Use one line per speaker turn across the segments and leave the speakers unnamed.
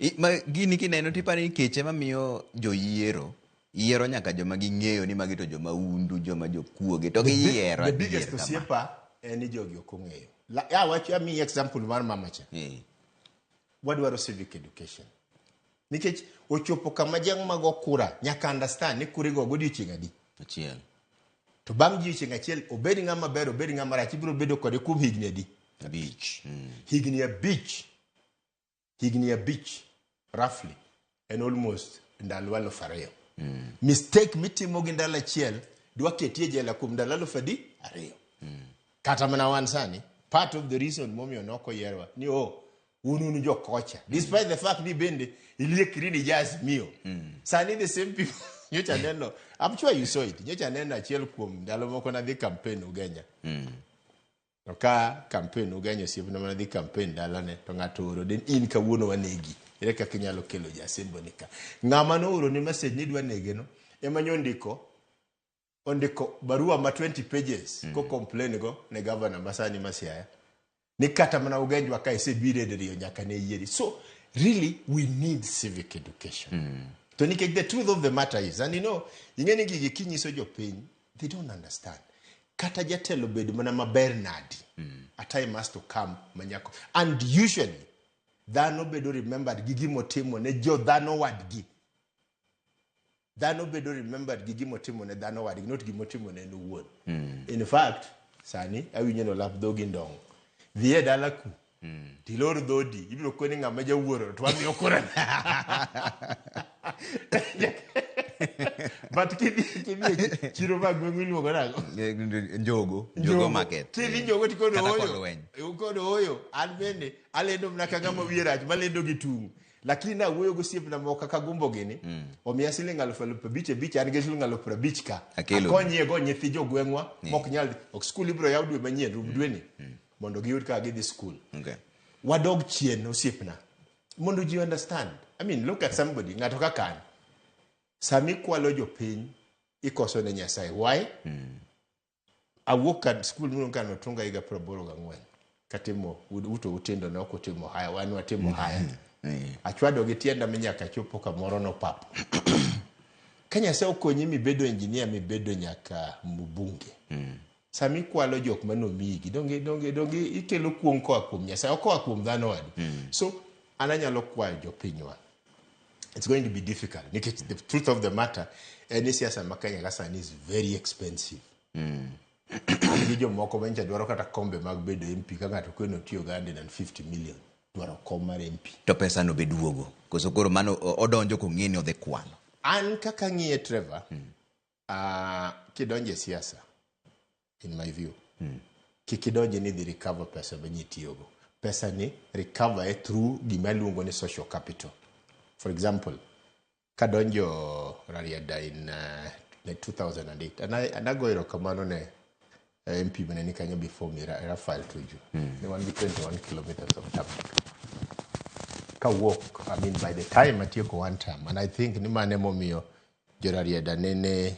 I- ma gini kineno tiparo ni kech ema miyo joyiero yiero nyaka joma ging'eyo ni magi to joma undu joma jokuoge to giyiero the biggest adier kama. osiepa
en ni jogi ok ong'eyo La- ya wach amiyi example mar mama cha Eh, wadwaro civic education nikech ochopo kama jang mago kura nyaka understand ni kure go godiochieng adi achiel
to
bang' jiochieng achiel obed ng'ama ber obed ng'ama rach ibiro bedo kode kuom higni adi abich Mm.
higni abich
higni abich roughly en almost ndalo aluf ariyo mm. mistake mitimo gi ndalo achiel dwa keti e jela kuom ndalo aluf adi ariyo mm. kata mana wan sani part of the reason momiyo noko yerwa ni o oh, un un jokocha despite mm. the fact ni bende iliekri ni jaz miyo mm. sani the same people nyocha neno I'm sure you saw it nyocha neno achiel kuom ndalo moko nadhi campaign Ugenya mm. To ka kampen ugenyo osiepna mana dhi kampen dalane to ng'ato oro din in kawuono wanegi. Ere kaka inyalo kelo jasembo ni ka? Ng'ama nooro ni message ni dwa nege no ema nyo ndiko ondiko barua ma 20 pages mm. ko complain go ne governor masani masiaya ni kata mana ugenjwa ka isebiro e diriyo nyaka ne yieri. So really we need civic education. Mm. To nikech the truth of the matter is and you know ing'eni gigi kinyiso jopiny they don't understand kata jatelo bed mana maber nadi a time has to come manyako and usually dhano bedo remembered gi gimotimo ne jo dhano wadgi dhano bedo remembered gi gimotimo ne dhano wadgi not gimotimo ne en owuon in fact sani awinjo ni olap dhogi ndong' dhi e dala ku tilor dhodi ibiro kwe ni ng'ama jawuoro to wamiyo kura but kidhi kidhi e chiro mag gweng'u iluongo nago Eh, njogo
njogo market kidhi Eh, njogo tikodo kata
oyo kolweny. ukodo oyo an bende alendo mna ka ng'ama wiye rach malendo gi tung' lakini nawuoyo gosiepna moko kaka gombo gini omiya siling alufu alufu abich abich an gi siling alufu abich ka Akelo. akonyiego nyithi jogweng'wa mok nyal ok skul ibiro yaw dwe manyien rum dweni mondo giyud kaka gidhi skul Okay. wadog chien osiepna mondo ji understand i mean look at somebody ng'ato kaka an sami kwalo jopiny ikoso ne nyasaye why awuok ka skul mno kano tunga higa piero aboro gang'wen katimo ud- uto utindo ne ok utimo haya wan watimo haya Eh, achwado gi tienda mi nyaka chopo kamoro nopapo ka nyasaye okonyi mibedo injinia mibedo nyaka mbunge sama ikwalo jok ma nomiyigi donge donge donge ikelo kuong' koa kuom nyasaye ok koa kuom dhano wadu so an anyalo kwayo jopinywa it's going to be difficult nikech the truth of the matter en ni siasa ma kenya ka sani is very expensive gi jomoko ma nyicha dwaro kata kombe mag bedo mp ka ng'ato kweno tiyo ga 150 million dwaro kom mar mp to pesa no be duogo
koso koro mano o- odonjo kong'e ni odhi kwalo an kaka
ng'iye trevor Ah, kidonje siasa in my view kik idonje ni dhi recover pesa ma ji tiyogo pesa ni recover e through gima iluongo ni social capital for example kadonjo rarieda in uh, ne 2008 and I- and ago erokamano ne eh, mp mane ni kanyo before me Ra- rafael tuju ne wan gi 21 kilometers of traffic kawuok i mean by the time atieko one term and i think ni mane momiyo Jorarieda nene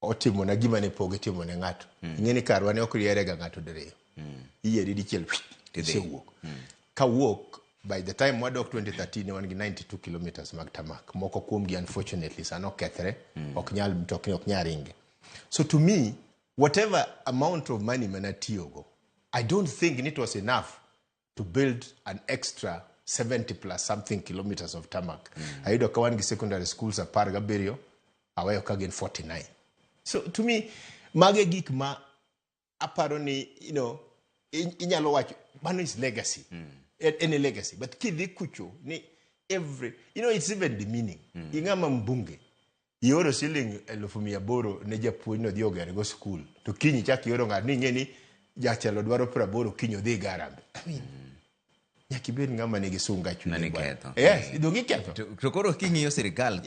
otimona gima ne pok itimo ne ng'ato. Mm. Ing'e ni karwa ne ok riere ga ng'ato diriyo. Mm. Iyieri dichiel isewuok. Mm. Ka wuok by the time wadok 2013 ne wan gi 92 kilometers mag tamak. Moko kuom gi unfortunately sano kethre. Mm. Ok nyal mtokni ok nyal ringe. So to me whatever amount of money mana tiyogo I don't think it was enough to build an extra 70 plus something kilometers of tarmac mm. ayudo ka wan gi secondary schools apar gabiriyo aweyo ka gin 49 so to me mage gik ma aparo ni you know inyalo wacho mano is legacy mm. any legacy but kidhi kucho ni every you know it's even demeaning mm. ing'ama mbunge ioro siling elufu mia aboro ne japuonj no dhi oger go skul to kiny ichak ioro ng'ato ni ing'e ni jatelo dwaro piero aboro kiny odhi iga harambee I mean, nyaka ibed
ng'ama
nigi
sunga
chunye
Nani bwana.
ketho. yes idong
iketho To to koro
king'iyo sirkal, Yes.